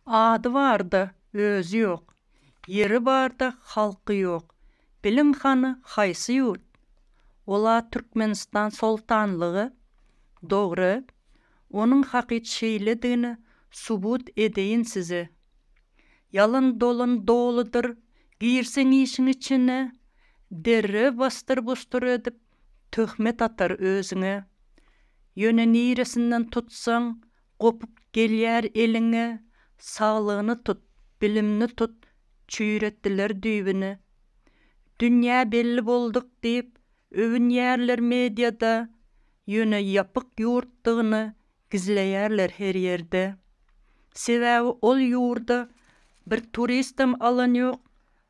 Ady barda, özi ýok. Ýeri barda, halky ýok. Biliň hany, haýsy ýurt? Ol-a Türkmenistan soltanlygy. Dogry. Onuň hakyt şeýledigini subut edeýin size. Ýalan dolan doludyr. Girseň işiň içine, derrew basdyr-busdur edip, töhmet atar özüňe. Ýöne niresinden tutsaň, gopup gelýär eliňe, Saglygyny tut, bilimni tut, çüýretdiler düýbüni. Dünýä belli bolduk diýip, öwünýärler mediada, Ýöne ýapyk ýurtdygyny Gizleýärler her ýerde. Sebäbi ol ýurda bir turistem alan ýok,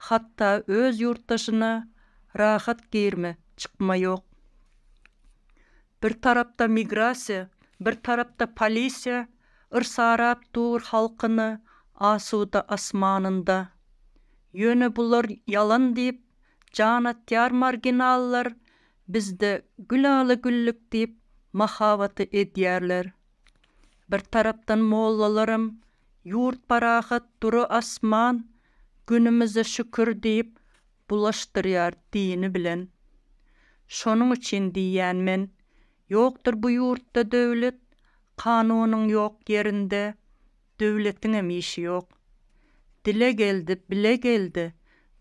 hatda öz ýurtdaşyna rahat girme, çykma ýok. Bir tarapda migrasiýa, bir tarapda polisiýa yrsaräp dur halkyny asuda asmanynda. Ýöne bular ýalan diýip jan atýar marginallar Bizde Gülala-Güllük diýip mahabaty edýärler. Bir tarapdan mollalaram Ýurt parahat, dury asman, günümize şükür diýip bulaşdyrýar dini bilen. Şonuň üçin diýýän men, ýokdur bu ýurtda döwlet, kanunyň ýok ýerinde, Döwletiňem işi ýok. Dile geldi, bile geldi,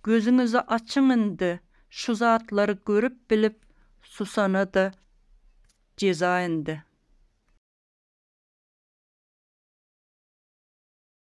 gözüňizi açyň indi, şu zatlary görüp bilip susana-da jeza indi.